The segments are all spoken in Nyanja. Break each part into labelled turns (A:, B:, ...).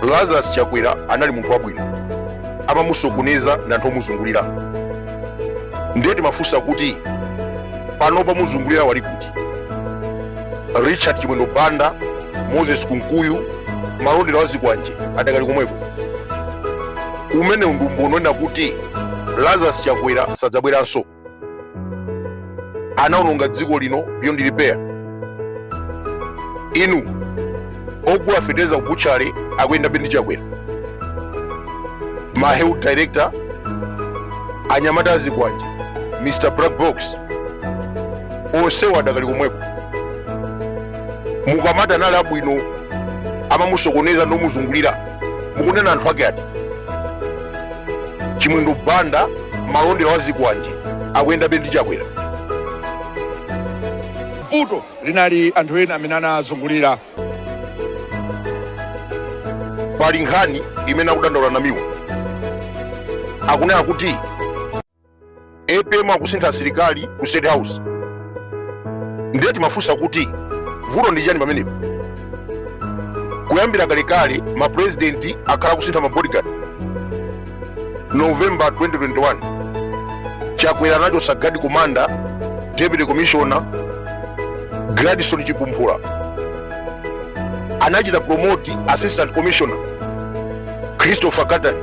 A: lazarus chakwera anali munthu wabwino amamusokoneza ndi anthu omuzungulira ndiye timafunsa kuti pano omuzungulira ali kuti richard chimwendo banda moses kunkuyu malondera wazikwanje adakali komweko umenewu ndi umboni wonena kuti lazarus chakwera sadzabweranso anaononga dziko lino beyond repair inu ogula fetereza ku butchery akuyendabe ndi chakwera ma health director anyamata azikwanje mr black box onsewo adakali komweko mukamati anali abwino amamusokoneza ndi omuzungulira mukunena anthu ake ati chimwendo banda malondera wazikwanje akuyendabe ndi chakwera
B: vuto linali anthu ena amene
A: anazungulira pali nkhani imene akudandaula namiwa akunena kuti apm akusintha asilikali ku state house ndiye timafunsa kuti vuto ndi chani pamenepo kuyambira kalekale mapurezidenti akhala akusintha mabodyguard november 2021 chakwera anachosa guard commander deputy commissioner gladson chipumphula anachita promote assistant commissioner christopher katani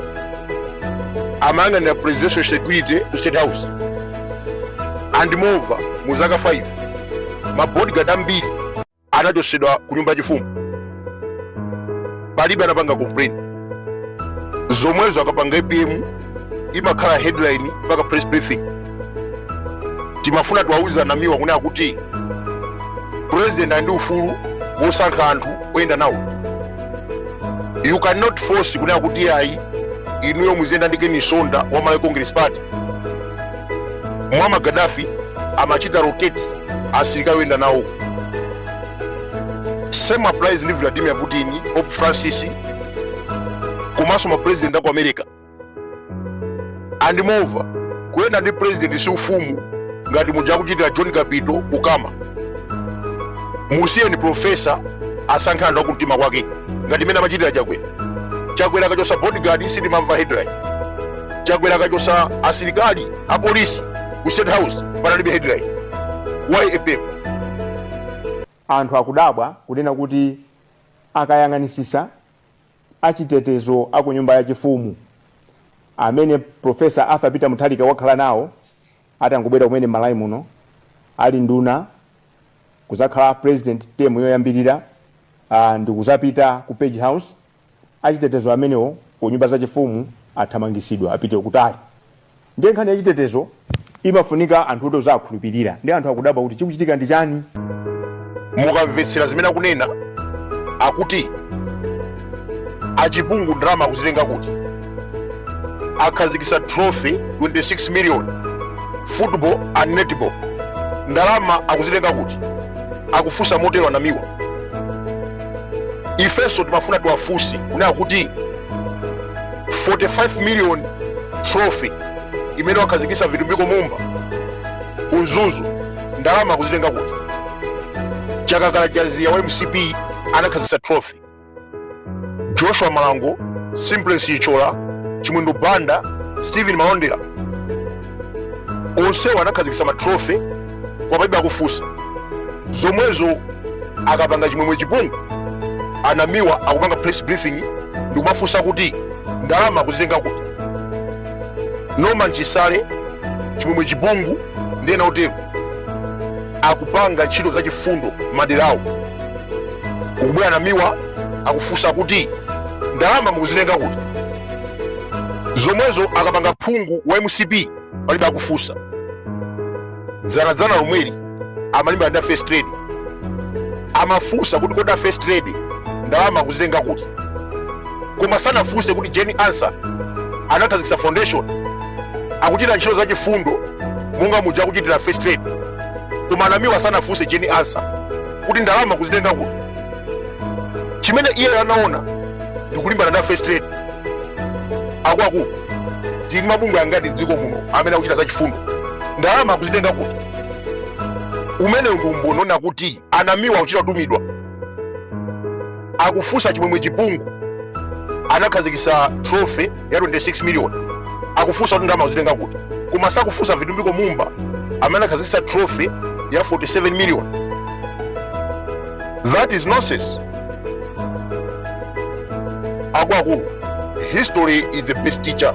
A: amayang'anira presidential security ku state house and moreover mu zaka 5 mabodyguard ambiri anachotsedwa ku nyumba yachifumu palibe anapanga complain zomwezo akapanga apm imakhala headline mpaka press briefing timafuna tiwauze namiwa kunena kuti president ali ndi ufulu wosankha anthu oyenda nawo you cannot force kunena kuti ayi inuyo muziyenda ndi Ken Msonda wa Malawi Congress Party Muammar Gaddafi amachita rotate asilikali oyenda nawo same applies ndi Vladimir Putin Pope Francis komanso ma president aku America and moreover kuyenda ndi president si ufumu ngati muja akuchitira john kapito ku cama musiyeni profesa asankhe anthu akumtima kwake ngati mmene amachitira chakwera chakwera akachosa bodyguard sitimamva headline chakwera akachosa asilikali apolisi ku state house panalibe headline why apm
C: anthu akudabwa kunena kuti akayang'anisisa achitetezo a ku nyumba yachifumu amene Professor Arthur Peter Mutharika wakhala nawo atangobwera kumene m'Malawi muno ali nduna kuzakhala president term yoyambirira ah, ndikuzapita ku Page House achitetezo amenewo ku nyumba zachifumu athamangisidwa apite kutali Ndiye nkhani ya chitetezo imafunika anthu oti ozawakhulupirira ndiye anthu akudabwa kuti chikuchitika ndi
A: chani. mukamvetsera zimene akunena akuti a Chipungu ndalama akuzitenga kuti akhazikisa trophy 26 million football and netball ndalama akuzitenga kuti akufunsa motero a Namiwa ifenso timafuna tiwafunse kunena kuti 45 million trophy imene wakhazikisa Vitumbiko Mumba ku Mzuzu ndalama akuzitenga kuti Chakakala Chaziya wa MCP anakhazikisa trophy Joshua Malango Simplex Chithyola Chimwendo Banda Steven Malondera onsewo anakhazikisa ma trophy kwao palibe akufunsa zomwezo akapanga Chimwemwe Chipungu a Namiwa akupanga press briefing ndikumafunsa kuti ndalama akuzitenga kuti Norman Chisale Chimwemwe Chipungu ndi ena otero akupanga ntchito za chifundo maderawo kukubwera a Namiwa akufunsa kuti ndalama mukuzitenga kuti zomwezo akapanga phungu wa MCP palibe akufunsa dzanadzana lomweli amalimbana ndi a First Lady amafunsa kuti kodi a First Lady ndalama akuzitenga kuti koma sanafunse kuti Jane Ansah anakhazikisa foundation akuchita ntchito za chifundo monga muja akuchitira First Lady koma a Namiwa sanafunse Jane Ansah kuti ndalama akuzitenga kuti chimene iye anaona ndikulimbana ndi a First Lady akwaku tili mabungwe angati m'dziko muno amene akuchita za chifundo ndalama akuzitenga kuti umenewu ndi umboni onena kuti a Namiwa akuchita kutumidwa akufunsa Chimwemwe Chipungu anakhazikisa trophy ya 26 million akufunsa kuti ndalama akuzitenga kuti koma sakufunsa Vitumbiko Mumba amene anakhazikisa trophy ya 47 million that is nonsense akuluakulu history is the best teacher